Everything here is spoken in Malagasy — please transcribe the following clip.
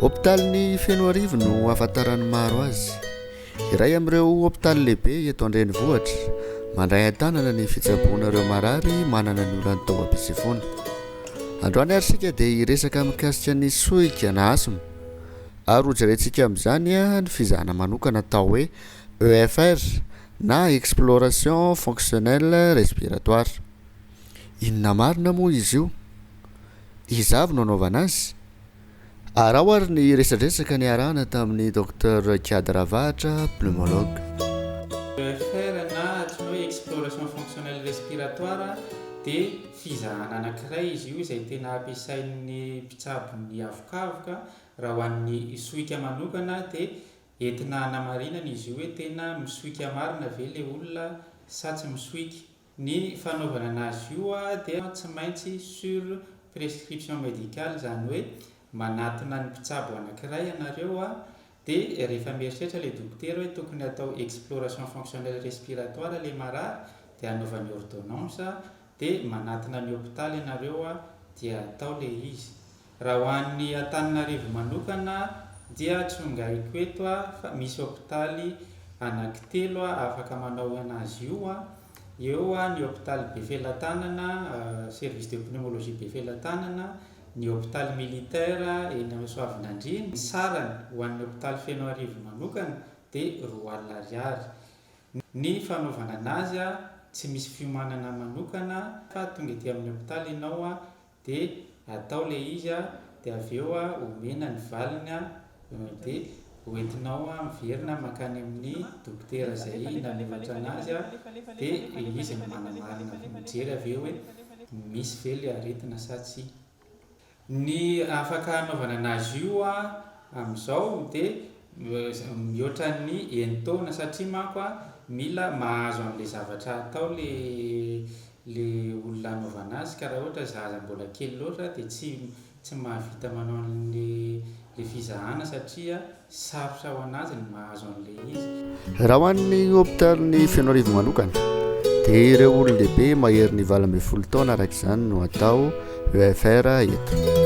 Hopitalin'i Fenoarivo no ahafantaran'ny maro azy. Iray amin'ireo hopitaly lehibe eto an-drenivohitra, mandray an-tanana ny fitsaboana ireo marary manana ny olan'ny taovam-pitsefoana. Androany ary isika dia hiresaka mikasika ny sohika na asthme ary hojerentsika amin'izany ny fizahana manokana atao hoe EFR na exploration fonctionnelle respiratoire. Inona marina moa izy io? Iza avy no anaovana azy? Araho ary ny resadresaka niarahana tamin'ny Docteur Kiady Ravahatra, pneumologue. EFR na Apnée Exploration Fonctionnelle Respiratoire dia fizahana anankiray izy io izay tena ampiasain'ny mpitsabo ny havokavoka. Raha ho an'ny sohika manokana dia entina hanamarinana izy io hoe tena misohika marina ve ilay olona sa tsy misohika. Ny fanaovana anazy io dia tsy maintsy sur prescription médicale izany hoe manatona ny mpitsabo anankiray ianareo dia rehefa mieritreritra ilay dokotera hoe tokony atao exploration fonctionnelle respiratoire ilay marary dia anaovany ordonnance dia manatona ny hôpital ianareo dia atao ilay izy. Raha ho an'ny Antananarivo manokana dia tsongaiko eto fa misy hopitaly anankitelo afaka manao an'azy io, eo ny hopitaly Befelatanana, service de pneumologie Befelatanana, ny hopitaly militaire eny amin'ny Soavinandriana, ny sarany ho an'ny hopitaly Fenoarivo manokana dia roa alina ariary ny fanaovana an'azy, tsy misy fiomanana manokana fa tonga ety amin'ny hopitaly ianao de atao le izy a de avy eo a omena ny valiny a de hoentinao a miverina makany amin'ny dokotera zay nanoratra anazy a de izy no manamarina vao mijery avy eo hoe misy ve le aretina sa tsia. Ny afaka anaovana anazy io a amizao de mihoatra ny enin-taona satria manko a mila mahazo anle zavatra atao le le olona anaovana azy ka raha ohatra zaza mbola kely loatra dia tsy tsy mahavita manao an'le le fizahana satria sarotra ho anazy ny mahazo an'le izy. Raha ho an'ny hopitalin'i Fenoarivo manokana dia ireo olon-dehibe maherin'ny valo ambin'ny folo taona araka izany no atao EFR eto.